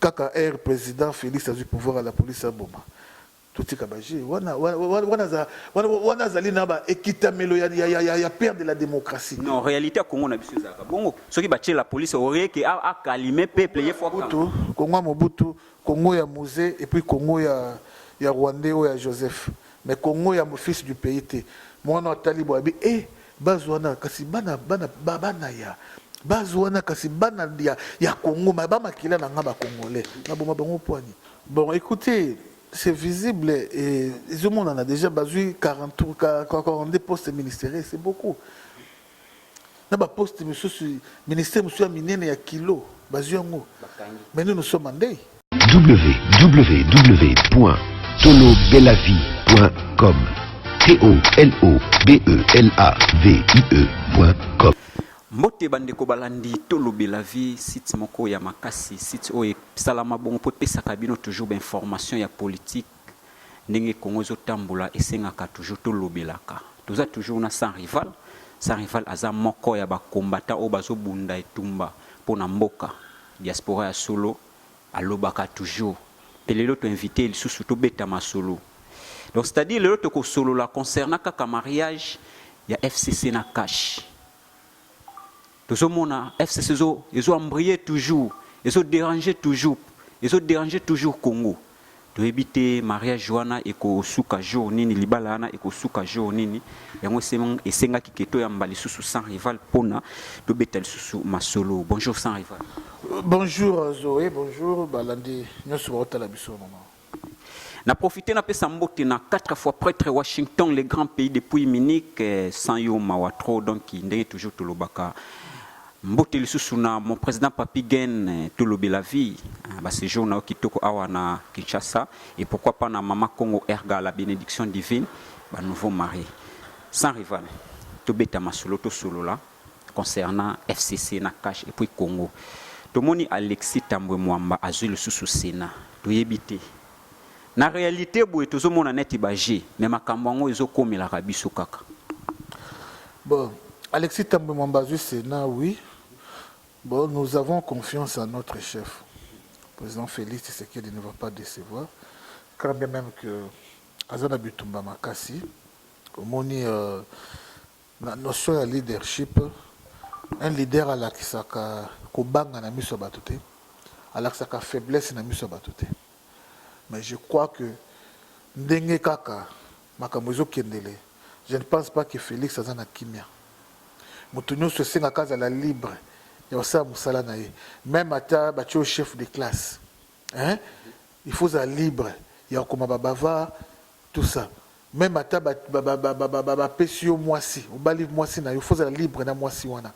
Kaka heure president Felix azui pouvoir ya la police aboma. Totika ba jeux. Wana wana za wana wana azali na ba ekitamelo ya ya ya ya père de la démocratie. Non, réalité ya Congo na biso ezalaka bongo. Soki ba tie la police au rien que a a calmer peuple ye fois. Mobutu, Congo ya Mobutu, Congo ya Muze et puis Congo ya ya Rwandais oyo ya Joseph. Mais Congo ya fils du pays te muana atali boye abi eh base wana kasi bana bana ba bana ya base wana kasi bana ya ya Congo mais ba makila na nga ba congolais na boma bango poani bon écoutez c'est visible et ezomonana déjà bazui 43 42 postes ministériels c'est beaucoup na ba poste misusu ministère misusu ya minene ya kilo bazwi yango mais nous nous sommes en deuil www.tolobelavie.com t o l o b e l a v i e.com mbote bandeko balandi tolobela vie site moko ya makasi site oyo esalama bongo mpo epesaka bino toujours bainformation ya politique Ndenge Congo ezo tambola esengaka toujours tolobelaka. Toza toujours na sans rival. Sans rival aza moko ya ba combattants oyo bazo bunda etumba pona mboka. Diaspora ya solo alobaka toujours. Pe lelo to invite ye lisusu tobeta masolo. Donc c'est à dire lelo toko solola concernant kaka mariage ya FCC na cash. Tozo mona FCC ezo ezo embriller toujours, ezo deranger toujours, ezo deranger toujours Congo. Toyebi te mariage wana ekosuka jour nini, libala wana ekosuka jour nini. Yango esengaki ke toyamba lisusu sans rival pona tobeta lisusu masolo. Bonjour sans rival. Bonjour Zoe, bonjour balandi nyonso baotala biso mama. Na profiter na pesa mbote na quatre fois pretre Washington le grand pays depuis Munich eh, sans yo mawa trop donc ndenge toujours tolobaka mbote lisusu na mon président Papi Gen eh, tolobela vie ah, ba séjour na yo kitoko awa na Kinshasa et pourquoi pas na mama Congo Erga la bénédiction divine ba nouveau marié sans rival tobeta masolo tosolola concernant FCC na cash et puis Congo tomoni Alexis Tambwe Mwamba azui lisusu Senat toyebi te na realite boye tozomona neti ba jeu mais makambo yango ezokomelaka biso kaka bon Alexis Tambwe Mwamba azui Senat oui bon nous avons confiance à notre chef président Félix Tshisekedi ne va pas décevoir quand bien même que aza na bitumba makasi omoni euh, Na notion ya leadership, un leader alakisaka kobanga na miso ya bato te, alakisaka faiblesse na miso ya bato te. Mais je crois que ndenge kaka makambo ezokendele, je ne pense pas que Felix aza na kimia. Moto nyonso esengaka azala libre ya kosala mosala na ye, meme ata batye yo chef de classe hein? il faut ozala libre ya kokoma ba bavard tout ça Meme ata ba ba pesi yo mwasi obali mwasi na yo faut ozala libre na mwasi wana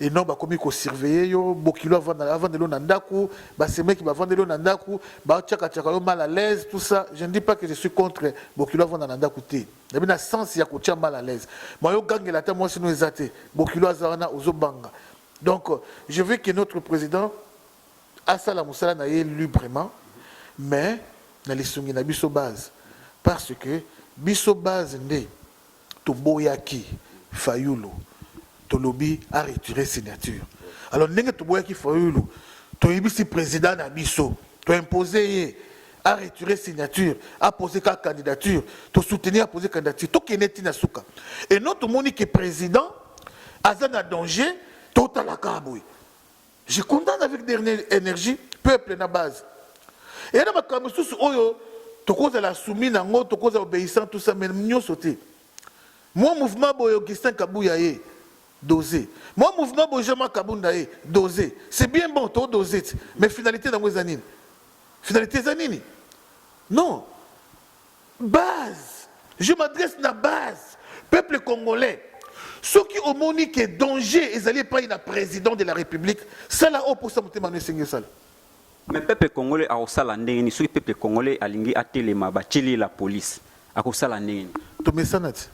et non bakomi ko surveiller yo bokilo avanda avandelo na ndaku ba semeki bavandelo na ndaku ba chaka chaka yo mal à l'aise tout ça je ne dis pas que je suis contre bokilo avanda na ndaku te na bina sens ya kotia mal à l'aise ma yo gangela ata mwasi no eza te bokilo aza wana ozo banga donc je veux que notre président asala musala na ye lubrement mais na lisungi na biso base parce que biso base nde toboyaki fayulu tolobi a retire signature alors ndenge toboyaki fayulu toyebisi president na biso to impose ye a retire signature a pose ka candidature to soutenir a pose candidature tokende ti na suka et non tomoni ke president aza na danger totalaka boye Je condamne avec dernière énergie peuple na base. Et na makambo susu oyo tokozala soumis nango, tokozala obéissant tout ça mais nyoso te. Moi mouvement boye Augustin Kabuya ye dosé. Moi mouvement boye Jean-Marc Kabunda ye dosé. C'est bien bon to dosé mais finalité nango eza nini? Finalité eza nini? Non. Base je m'adresse na base peuple congolais soki omoni ke danger ezali epayi na president de la republique sala oyo posa motema no esengi osala. Mais peuple congolais akosala ndenge nini soki peuple congolais alingi atelema batieli ye la police akosala ndenge nini? Tomesana ti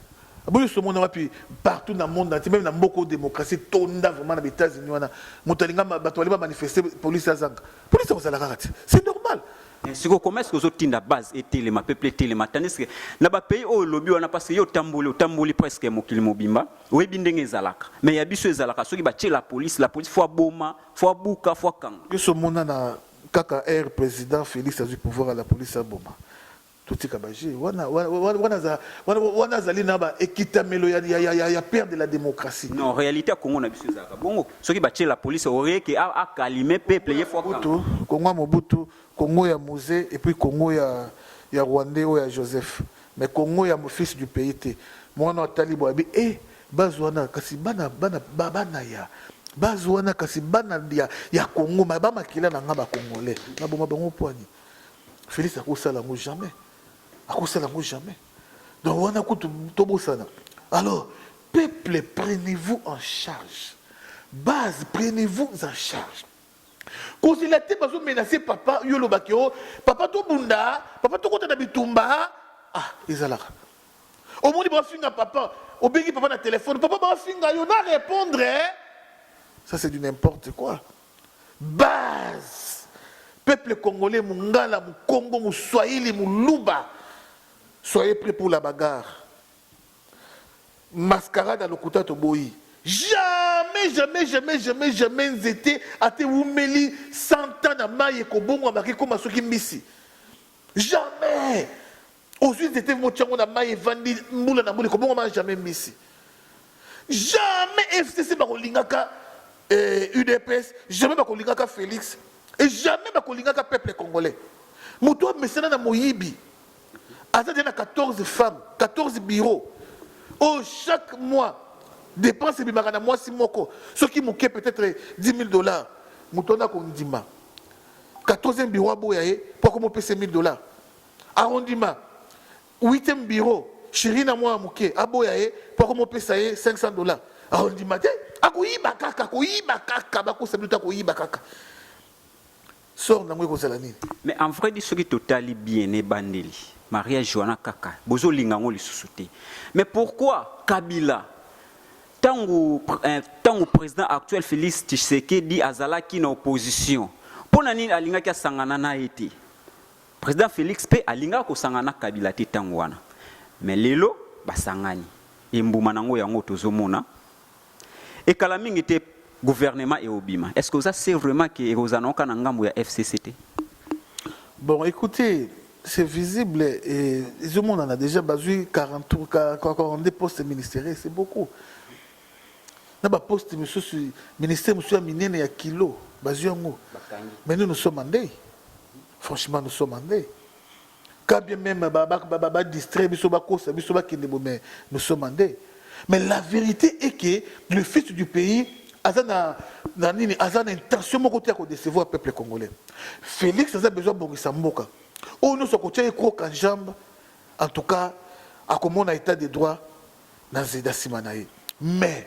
boye somona wapi partout na monde entier meme na mboka oyo democratie etonda vraiment na ba Etats-Unis wana moto alinga bato balingi ba manifester police azanga police akozala kaka ti c'est normal Eh, siko comment est-ce que ozotinda base etelema peuple etelema tandis que na ba pays oyo lobi wana parce que yo otamboli otamboli presque mokili mobimba oyebi ndenge ezalaka mais ya biso ezalaka soki batie la police la police fois boma fois buka fois kanga biso omona na kaka air président félix azwi pouvoir ya la police aboma totika baje wana wana azali na baekitamelo ya père de la démocratie non réalité ya congo na biso ezalaka bongo soki batie la police orie ke akalime peuple ye fwa mobutu kongo ya mobutu kongo ya muze et puis kongo ya ya rwandais oyo ya joseph mais kongo ya fils du pays te mwana wa talibo abi e eh, baz wana kasi bana bana bana ya baz wana kasi bana ya, ya kongo ma bamakila na nga bakongolais naboma bango pwani félix akosala yango jamais akosala yango jamais donc wana kutu tobosana alors Peuple prenez vous en charge base prenez vous en charge kozela te bazo menace papa yo oloba ke o oh, papa tobunda papa tokota na bitumba ah ezalaka omoni bafinga papa obengi papa na telefone papa bafinga yo na répondre eh? ça c'est du n'importe quoi base peuple congolais mungala mukongo muswahili muluba soyez prêt pour la bagarre Mascarade ya lokuta toboyi. Jamais jamais jamais jamais jamais nzete ata ewumeli 100 ans na mayi ekobongwama ke koma soki mbisi jamais ozui nzete motia ngo na mayi evandi mbula na mbula ekobongwama jamais mbisi jamais fcc bakolingaka eh, udps jamais bakolingaka felix et jamais bakolingaka peuple congolais moto amesana na moyibi aza deja na 14 femmes 14 bureau oyo chaque mois dépense ebimaka na mwasi moko soki moke peut-être 10 000 dollars moto wana akondima 14e bureau aboya ye mpo akomopesa 1000 dollars akondima 8e bureau shiri na mwana moke aboya ye mpo akomopesa ye 500 dollars akondima te akoyiba kaka akoyiba kaka bakosa bino te akoyiba kaka Sort nango eko zala nini? Mais en vrai dit soki totali bien na ebandeli mariage wana kaka bozo linga yango lisusu te mais pourquoi kabila tangu eh, tangu president actuel Felix Tshisekedi azalaki na opposition mpo na nini alingaki asangana na ye te president Felix mpe alingaka kosangana na kabila te ntango wana mais lelo basangani embuma nango yango tozomona Et kala mingi te gouvernement et obima. Est-ce que ça c'est vraiment que Rosanoka na ngambo ya FCCT? Bon, écoutez, c'est visible et tout le monde en a déjà basé 40 42 postes ministériels, c'est beaucoup. Na ba poste monsieur ministère monsieur minene ya kilo bazui yango. Mais nous nous sommes en deuil. Franchement, nous sommes en deuil. Quand bien même ba ba ba ba distrait biso ba kosa biso ba kende bo mais nous sommes en deuil. Mais la vérité est que le fils du pays aza na na nini aza na intention moko te ya ko décevoir peuple congolais. Félix aza besoin bongisa mboka. Oyo nyonso akotia ye croc en jambe en tout cas akomona état de droit na zeda nsima na ye mais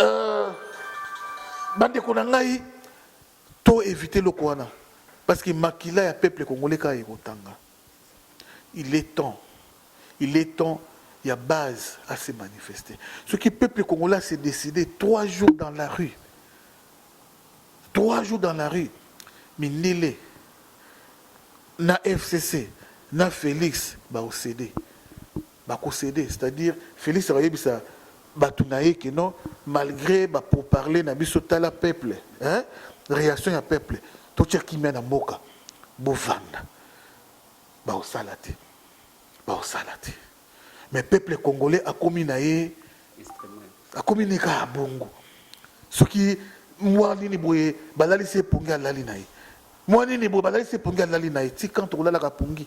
Euh, bandeko na ngai to éviter loko wana parce que makila ya peuple congolais kaka ekotanga il est temps il est temps ya base à se manifester ce qui peuple congolais s'est décidé trois jours dans la rue trois jours dans la rue mindele na fcc na félix baosede ba ko ceder c'est à dire Felix ako yebisa batu na ye que non malgre ba pour parler na biso tala peuple hein reaction ya peuple to tia kimia na mboka bo vanda ba ko sala te ba ko sala te mais peuple congolais akomi na ye akomi ne ka bongo soki mwa nini boye balalisi ye pongi alali na ye mwa nini boye balalisi ye pongi alali na ye ti quand okolalaka pongi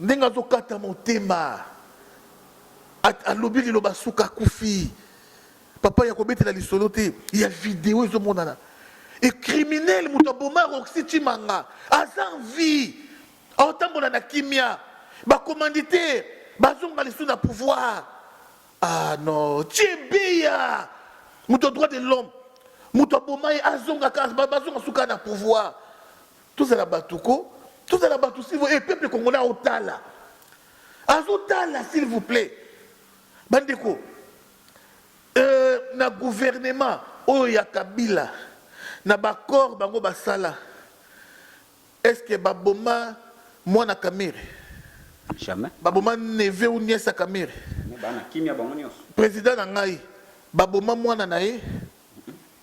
Ndenge azo kata motema alobi liloba suka akufi papa ya kobetela lisolo te ya video ezomonana e criminel moto aboma roxy chimanga aza vie aotambola na kimia bacommanditaire bazonga lisusu na pouvoir ah non chebeya moto droit de l'homme moto aboma ye azonga bazonga suka na pouvoir Tozala batu ko tozala batu s'il vous eh peuple congolais aotala azotala s'il vous plaît bandeko euh, na gouvernement oyo ya kabila na baccord bango basala est ce que baboma mwana kamere jamais baboma neve ou nièce ya kamere président na ngai baboma mwana na ye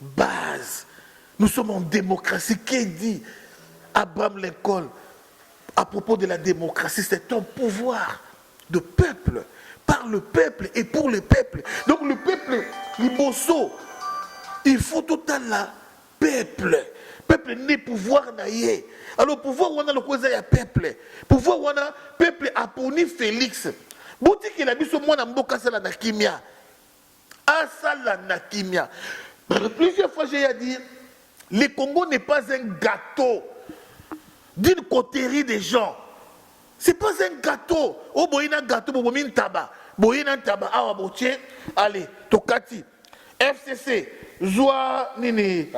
Base nous sommes en democratie que dit Abraham Lincoln à propos de la democratie c'est un pouvoir de peuple par le peuple et pour le peuple donc le peuple liboso il faut totala peuple peuple nde pouvoir na ye alors pouvoir wana lokola eza ya peuple pouvoir wana peuple aponi felix botikela biso mwana mboka asala na kimia asala na kimia plusieurs fois j'ai à dire le Congo n'est pas un gâteau d'une coterie des gens c'est pas un gâteau oyo boye na gâteau bobomi ntaba boye na ntaba awa botie allez tokati fcc zwa nini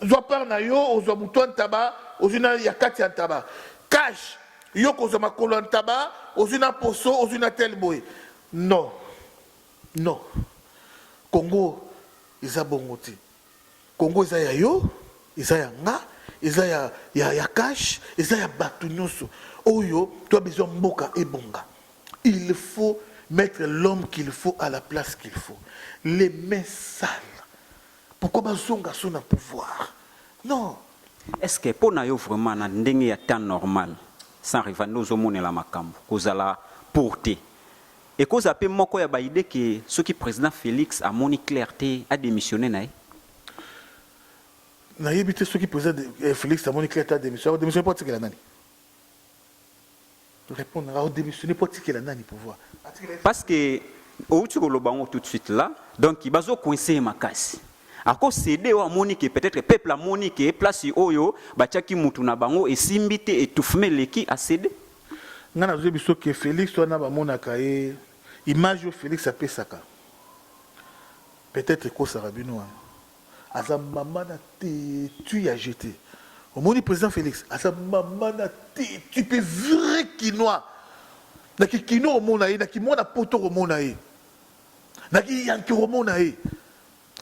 zwa part na yo ozwa moto ya ntaba ozwi na ya kati ya ntaba cash yo kozwa makolo ya ntaba ozwi na poso ozwi na tel boye non Non congo eza bongo te congo eza ya yo eza ya nga eza ya ya ya cash eza ya batu nyoso oyo toi besoin mboka ebonga il faut mettre l'homme qu'il faut à la place qu'il faut les mains sales pourquoi bazonga so na pouvoir non Est-ce que mpo na yo vraiment na ndenge ya temps normal sans rival nde ozomonela makambo kozala pour te Ekozala pe moko ya ba idees que soki President Felix amoni claire te, a demissionner na ye? Nayebi te soki President Felix amoni claire te a demissionner. Ako demissionner po atikela nani? Repondre nanga, ako demissionner po atikela nani pouvoir? Parce que owuti koloba yango tout de suite là, donc bazo coincer ye makasi. Ako ceder oyo amoni que peut-etre peuple amoni que place oyo batiaki mutu na bango esimbi te, etouffement eleki, a ceder. Nga nazo yebi biso que Felix wana ba monaka ye image oyo Felix apesaka peut etre ekosaka bino wana aza mama na tetu ya jete omoni president Felix aza mama na tetu pe vrai kinois na kikino omona ye na kimwana poto komona ye na kiyanki komona ye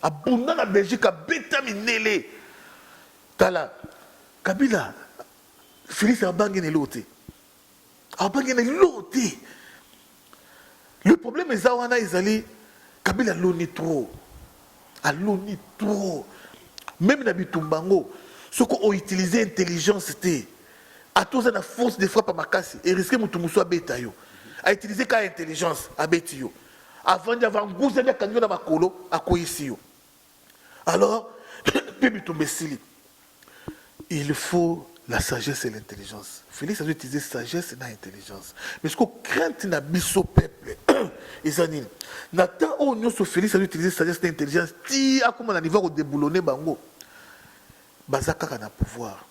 abunda na Belgique abeta minele tala Kabila Felix abangi na eloko te, abangi na eloko te. Le problème eza wana, ezali Kabila aloni trop, aloni trop. Meme na bitumba yango, soki o utiliser intelligence te, ata oza na force de frappe makasi, e risque moto mosusu abeta yo. A utiliser kaka intelligence, abeti yo. Avandi, avanguzami, akangi yo na makolo, akweyisi yo. alors mpe bitumba esili il faut la sagesse et l'intelligence félix azo utiliser sagesse na intelligence mais siko crainte na biso peuple eza nini na temps oyo nyonso félix azo utiliser sagesse na intelligence ti akoma na niveau ya kodeboulonne bango baza kaka na pouvoir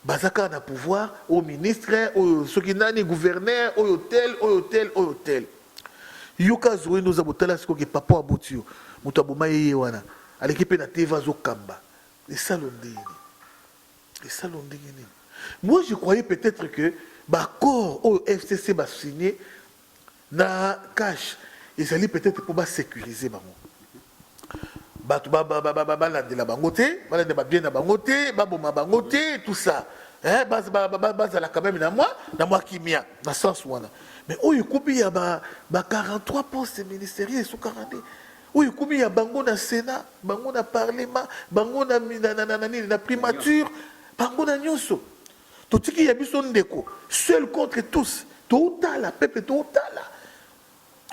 Baza kaka na pouvoir oyo ministre oyo soki nani gouverneur oyo tel oyo tel oyo tel yoka zoe noza botala siko ke papa aboti yo moto aboma ye ye wana aleki pe na teva azo kamba esalo ndenge nini esalo ndenge nini moi je croyais peut-etre que ba accord oyo fcc ba signe Na cache ezali peut-etre mpo ba securiser bango bato balandela bango te balandela babien na bango te baboma bango te tout ça eh, bazala quand même na mwa na mwa kimia na sens wana mais oyo ekomi ya ba, ba 43 poste ministeriel esukaka nde oyo ekomi ya bango na sénat bango na parlement bango na, na, na, na, na, na, na primature bango na nyonso totiki ya biso ndeko seul contre tous toutala pepe toutala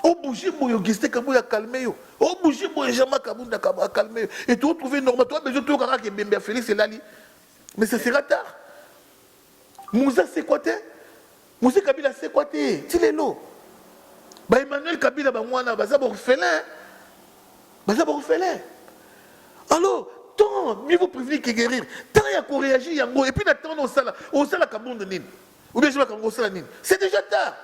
obouge boye auguste kabuya akalme yo obouge boye jean marc abunda akalme yo et tootrouve normal toa besoin toyoka kaka ebembe ya félix elali mais ça sera tard muza sekwa te Mzee Kabila asekwa te ti lelo. Ba Emmanuel Kabila bango wana baza ba orphelin. Baza ba orphelin. Alors, tant mieux vous prévenir que guérir. Tant ya ko réagir yango et puis na tant osala osala kabundu nini? Ou bien je vais kango osala nini? C'est déjà tard.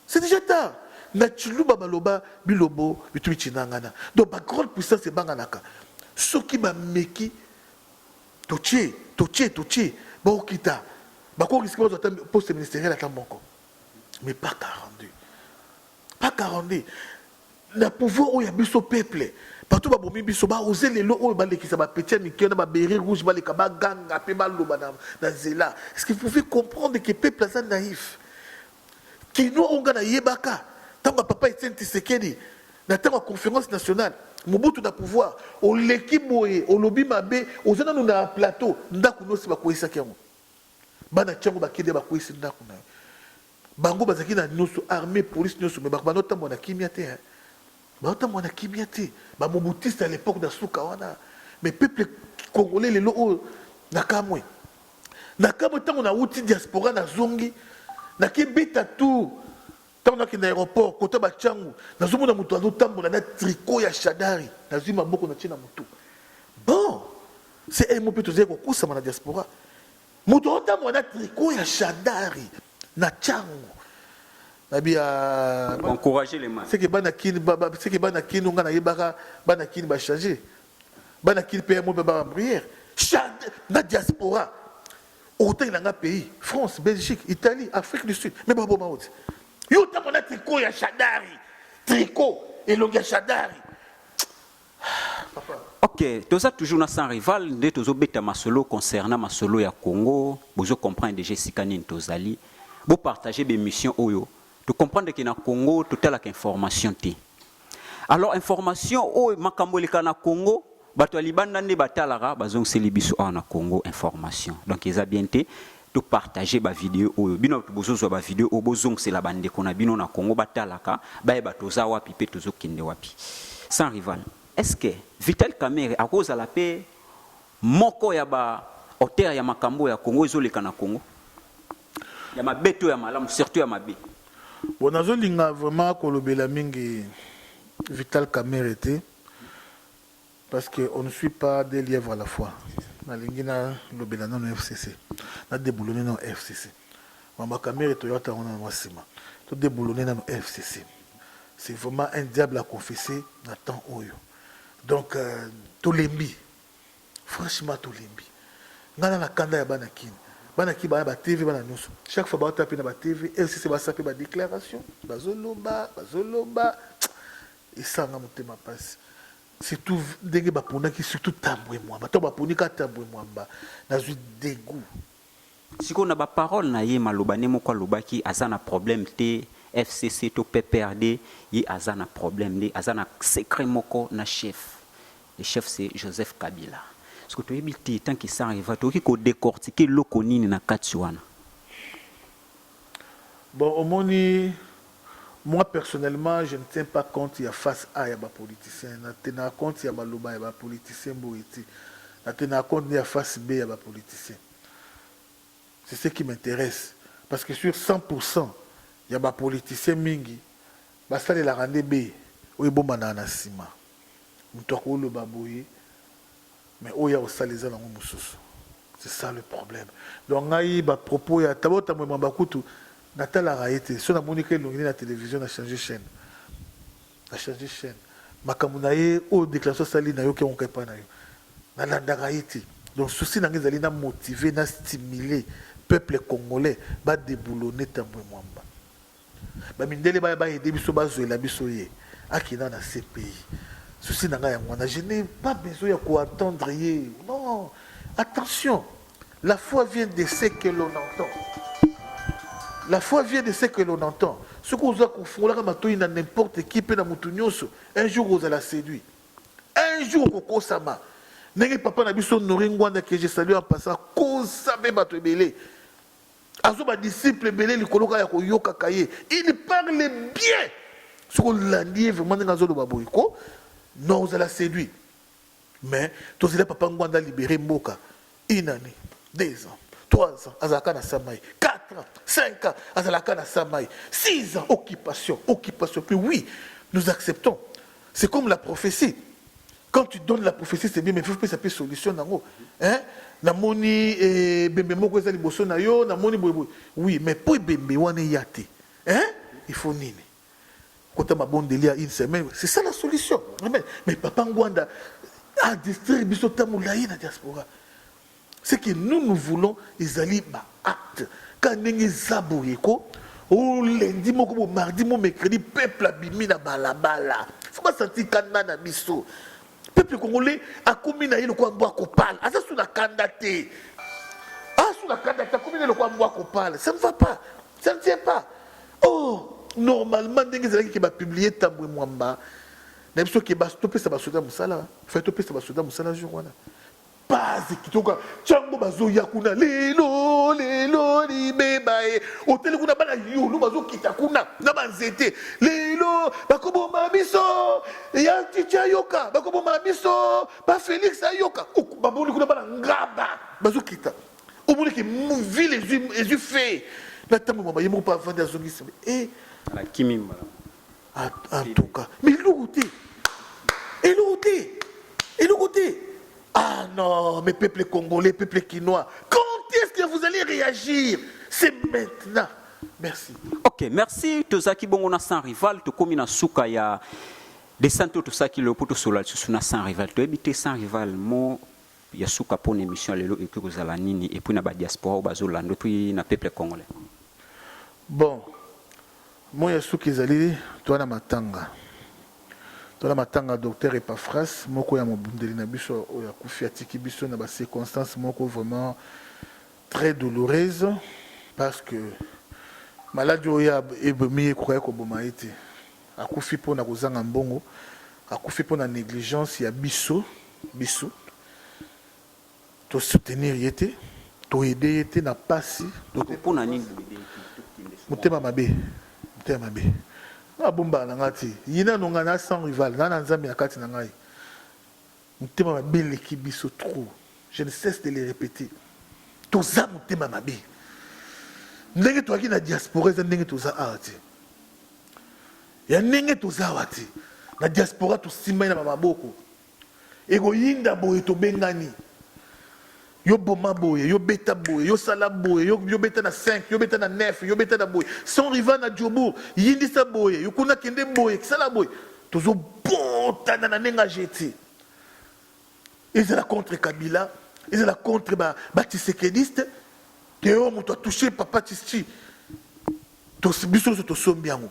C'est déjà tard. Na chiluba baloba bilobo bitubi chinangana. Donc ba grande puissance ebanganaka. Soki ba meki Totie, totie, totie, bakokita, bako risque bazwa ata poste ministeriel ata moko, mais pas 42, pas 42 na pouvoir oyo ya biso peuple bato babomi biso baose lelo oyo balekisa bapeti ya mike na babere rouge baleka baganga mpe baloba na nzela ce que vous pouvez comprendre que peuple aza naïf Kinois oyo nga na yebaka tango ya papa Etienne Tshisekedi na tango ya conference nationale Mobutu na pouvoir oleki boye olobi mabe oza nanu na plateau ndaku nayo esi bakueyisaki yango bana tshango bakede bakueyisi ndaku nayo bango bazalaki na nioso armee police nioso mais bako banda otambola na kimia te hein Bazotambola na kimia te, ba mobutistes à l'epoque na suka wana, mais peuple congolais lelo oyo nakamwe. Nakamwe tango nawuti diaspora nazongi, nake beta tour tango nakenda aeroport kota ba changu, nazomona moto azotambola na tricot ya shadari, nazwi maboko natie na motu. Bon, CMO mpe tozali kokosama na diaspora, moto azotambola na tricot ya shadari. Na changu. Nabi ya. Encourager les mains. Seke bana kin, seke bana kin, nga na yebaka bana kin ba changer. Bana kin pe mo pe ba prière. Chante na diaspora. Otengela nga pays, France, Belgique, Italie, Afrique du Sud, mais babo maote. Yo tango na tricot ya Shadari, tricot elongi ya Shadari. Ok, toza toujours na sans rival nde tozo beta masolo concernant masolo ya Congo, bozo comprendre déjà esika nini tozali. Bo partager ba émissions oyo, to comprendre que na Congo totalaka information te. Alors information oyo makambo eleka na Congo, bato ya libanda nde batalaka bazongiseli biso awa na Congo information. Donc eza bien te. to partager ba video oyo bino batu bozozwa ba video oyo bozongisela bandeko na bino na Congo batalaka bayeba toza wapi mpe tozokende wapi sans rival est-ce que Vital Kamerhe akozala mpe moko ya ba auteur ya makambo ya Congo ezoleka na Congo ya mabe to ya malamu surtout ya mabe bon nazolinga vraiment kolobela mingi Vital Kamerhe te Parce que on ne suit pas deux lièvres à la fois nalingi na lobela nano FCC na deboulonner nano FCC Mama Kamere toya tango nano mwa sima to deboulonner nano FCC c'est vraiment un diable à confesser na temps oyo donc euh, tolembi franchement tolembi ngai na na kanda ya bana kini bana ki bana ba TV bana nyonso chaque fois bawata pe na ba TV FCC basa pe ba déclaration bazoloba bazoloba esanga motema pasi Surtout ndenge ba ponaki surtout Tambwe Mwamba tango ba poni kaka Tambwe Mwamba nazwi degout. Sikoyo na ba paroles na ye maloba ne moko alobaki aza na problème te FCC to PPRD ye aza na problème nde aza na secret moko na chef le chef c'est Joseph Kabila sikoyo toyebi te tant que ça arrivera tokoki ko decortiquer eloko nini na kati wana. Bon omoni moi personnellement je ne tiens pas compte ya face a ya ba politiciens na tenaka compte ya maloba ya ba politiciens boye te na tenaka compte nde ya face B ya ba politiciens c'est ce qui m'interesse parce que sur 100 pourcent ya ba politiciens mingi basalelaka nde B oyo ebombanaka na sima mutu akoloba boye Mais oyo akosala eza nango mususu c'est ça le problème donc ngai ba propos ya tabo tambwe mwamba kutu na talaka ye te soki na moni ka elongi ne na television na changer chaine na changer chaine makambo na ye oyo declaration asali na yoki yango ka epai na yo na landaka ye te donc souci na ngai ezali na motiver na stimuler peuple congolais ba deboulonner tambwe mwamba Ba mindele baya ba aider biso bazuela biso ye akenda na CPI. Souci na ngai yango wana je n'ai pas besoin ya ko entendre ye. Non. Attention. La foi vient de ce que l'on entend. La foi vient de ce que l'on entend. Soki oza kofungolaka matoi na n'importe qui mpe na motu nyonso, un jour ozala séduit. Un jour okokosama. Ndenge papa na biso Nori Ngwanda que je salue en passant, kosa mpe bato ebele. Azwa ba disciples ebele likolo kaka ya koyokaka ye. Il parle bien. Soki olandi ye vraiment ndenge azoloba boye ko non ozala séduit. Mais tozela papa Ngwanda libere mboka une année, deux ans, trois ans azalaka na samai quatre ans, cinq ans azalaka na samai six ans occupation occupation. Puis oui, nous acceptons. C'est comme la prophétie. Quand tu donnes la prophétie c'est bien mais faut pesa pe solution nango. Hein? Namoni eh, bembe moko eza liboso na yo, namoni boye boye. Oui, mais po bembe wana ya te. Hein? Il faut nini? Kota mabondeli ya une semaine, c'est ça la solution. Amen. Mais papa Ngwanda a distraire biso tamu layi na diaspora. Ce que nous nous voulons ezali ba actes kaka ndenge eza boye ko o lundi moko bo mardi mo mercredi peuple abimi na balabala faut ba sentir kanda na biso peuple congolais akomi na ye lokola mbwa kopala aza su na kanda te asu na kanda te akomi na ye lokola mbwa kopala ça ne va pas ça ne tient pas oh normalement ndenge ezalaki ke bapublie tambwe mwamba na biso ke topesa basoda mosala fai topesa basoda mosala jour wana Base kitoko chango bazoya kuna lelo lelo libeba e oteli kuna bana yulu bazokita kuna na banzete lelo bakoboma biso ya titi ayoka bakoboma biso ba felix ayoka bamoni kuna bana ngaba bazokita omoni ke ville ezwi fe na ntango mama ye moko mpe avandi azongisi e eh. nakimi malamu antuka mais eloko te eloko te eloko te ah non mais peuple congolais peuple kinois quand est-ce que vous allez réagir c'est maintenant merci ok merci tozalaki bongo na sans rival tokomi na suka ya descente oyo tosalaki lelo mpo tosolola lisusu na sans rival toyebi te sans rival mo ya suka mpo na émission lelo ekoki kozala nini epuis na badiaspora oyo bazolanda epuis na peuple congolais bon Moi ya suka ezali toa na matanga. Toa na matanga ya Docteur Epaphras, moko ya mobundeli na biso oyo akufi, atiki biso na ba circonstances moko vraiment très douloureuse parce que maladi oyo ebomi ye ekokaki koboma ye te. Akufi mpo na kozanga mbongo, akufi mpo na negligence ya biso biso. To soutenir ye te, to aider ye te na pasi. Ndeko po na nini boyede ye te? Tokende sikoyo. Motema mabe, motema mabe. Nga abombaka na nga te. Ye nanu nga na sans rival, na na Nzambe na kati na ngai. Motema mabe eleki biso trop. Je ne cesse de le repeter. Toza motema mabe. Ndenge toyaki na diaspora eza ndenge toza awa te. Ya ndenge toza awa te. Na diaspora tosimbani na ba maboko. Ekoyinda boye tobengani yo boma boye yo beta boye yo sala boye yo, yo beta na 5 yo beta na 9 yo beta na boye sans riva na jobour yindisa boye yo kuna kende boye sala boye tozobotana na ndenge ajeti ezala contre kabila ezala contre batisekediste ba teo moto atouche papa tisti biso nyonso tosombi yango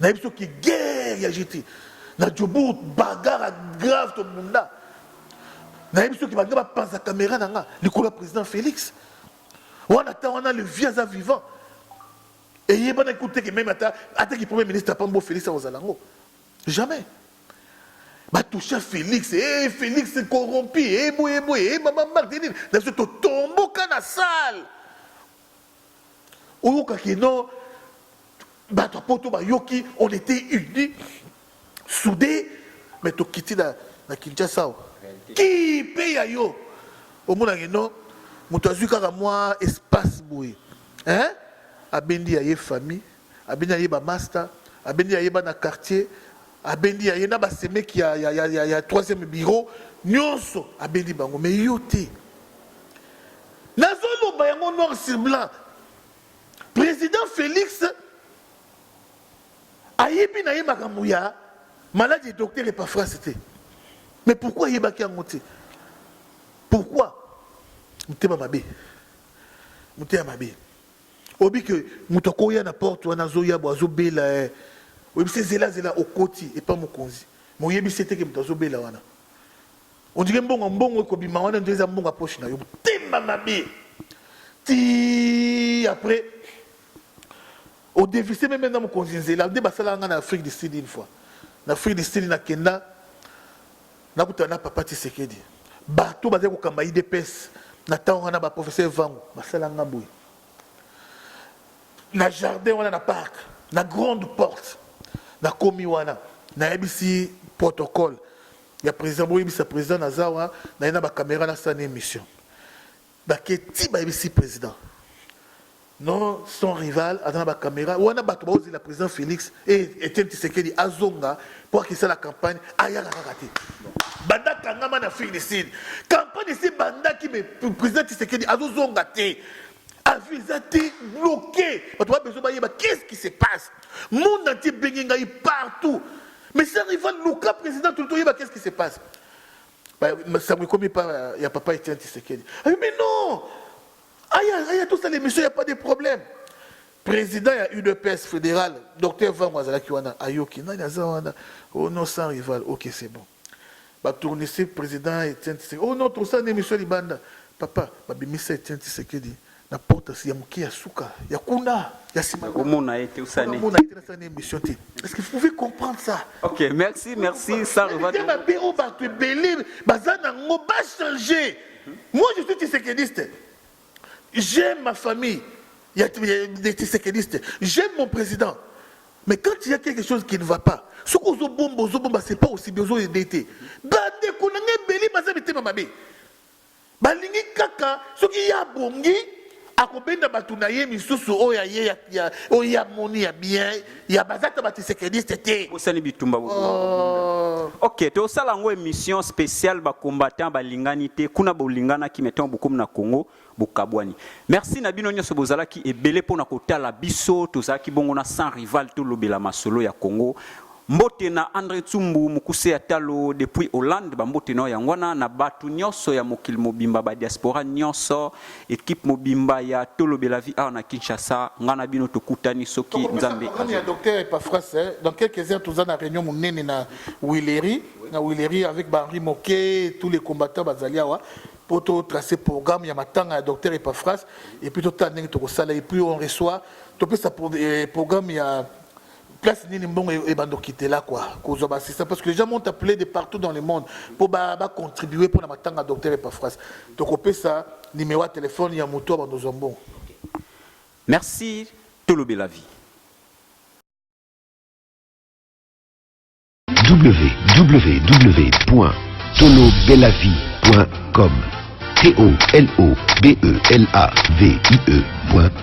nayebi soki guerre ya jeti na jobour bagara grave tobunda nayebi soki balingi bapanza kamera na nga likolo ya président félix wana ata wana le vie aza vivant eyebanaki kutu teke meme ata ataki premier ministre apambi bo félix akozala yango jamais batoucha félix e eh, félix corrompi eboyeboye eh, e eh, babamarte nini na biso totomboka na salle Oyoka que non, bato ya poto bayoki, on était unis, soudés, mais tokiti na, na Kinshasa awa. Ki pe ya yo. Omona que non, moto azwi kaka mwa espace boye. Hein? Abendi ya ye famille. Abendi naye ba masta, abendi yaye bana quartier, abendi yaye na ba semeki ya, ya, ya, ya, ya troisième bureau, nionso abendi bango mais yo te. Nazo loba yango noir sur blanc. President Felix ayebi naye makambo ya maladi ya docteur Epafras te. Mais pourquoi ayebaki yango te? Pourquoi? Motema mabe. Motema mabe. oyebi ke moto akoya na porte wana azoya bo azobela eh. oyebisi ye zela zela okoti epa mokonzi me oyebisi ye te ke moto azobela wana ondike mbongo mbongo ekobima wana nde eza mbongo ya poche na yo motema mabe ti après odevise meme na mokonzi nzela nde basalaka ngai na afrique du sud une fois na afrique du sud nakenda Nakutana na papa Tshisekedi. Bato bazali kokamba IDPS na ntango wana ba professeur Vangu basala nga boye. Na jardin wana na parc, na grande porte, nakomi wana nayebisi protocole ya président boyebisa président naza wana naye na ba camera nasala na émission. Bake tii bayebisi president non son rival aza na ba camera wana bato baozela president Felix et Etienne Tshisekedi azonga mpo akisala campagne ayaka kaka te banda akangama na Afrique du Sud campagne esi ebandaki mais president Tshisekedi azozonga te avion eza te bloqué bato babezo bayeba qu'est-ce qui se passe monde entier ebenge ngai partout mais son rival luka president toli toyeba qu'est-ce qui se passe Sango ekomi pa ya papa Etienne Tshisekedi. Ah, mais non Aya, aya tout ça l'émission, il n'y a pas de problème. Président ya UDPS fédéral, docteur Vango azalaki wana, ayoki nani aza wana, oh non sans rival, ok c'est bon. Ba tournissez président Etienne Tshisekedi. Oh non, tout ça l'émission libanda. Papa, babimisa Etienne Tshisekedi. na porte ya moke ya suka ya kuna ya sima omona ye te osani omona ye te na sani émission te est-ce que vous pouvez comprendre ça OK merci merci ça revient ma bureau ba tu belé bazana ngo ba changer moi je suis tisekediste j'aime ma famille il y a des tisekedistes j'aime mon président mais quand il y a quelque chose qui ne va pas ce qu'on zo bombo zo bomba c'est pas aussi bien zo aider te ba de ko na ngai belé baza bitema mabe Balingi kaka soki ye abongi akobenda bato na ye misusu oyo ya ye ya oyo ye amoni ya bien ya baza ata batisekediste te bosani bitumba bo oh. ok tosala yango émission spéciale bacombattant balingani te kuna bolinganaki me ntango bokomi na congo bokabwani merci na bino nyonso bozalaki ebele mpo na kotala biso tozalaki bongo na sans rival tolobela masolo ya congo Mbote na Andre Tsumbu, mokuse ya talo depuis Hollande, ba mbote na yo yango wana na batu nionso ya mokili mobimba, ba diaspora nionso, equipe mobimba ya Tolobela Vie awa na Kinshasa, nga na bino tokutani soki Nzambe Tokopesa parole ya azo. Docteur Epaphras, eh, dans quelques heures toza na reunion munene na Huilerie, na Huilerie avec ba Henri Moke, tous les combattants bazali awa po to tracer programme ya matanga ya Docteur Epaphras et puis totala ndenge tokosala et puis on reçoit topesa pro- eh, programme ya place nini mbongo e-, ebanda okitela kua kozwa baassistant parce que les gens m'ont appelé de partout dans le monde mpo bacontribue mpo na matanga docteur epafras tokopesa nimero ya telefone ya moto abanda ozwa mbongo merci tolobela vie www.tolobelavie.com T-O-L-O-B-E-L-A-V-I-E.com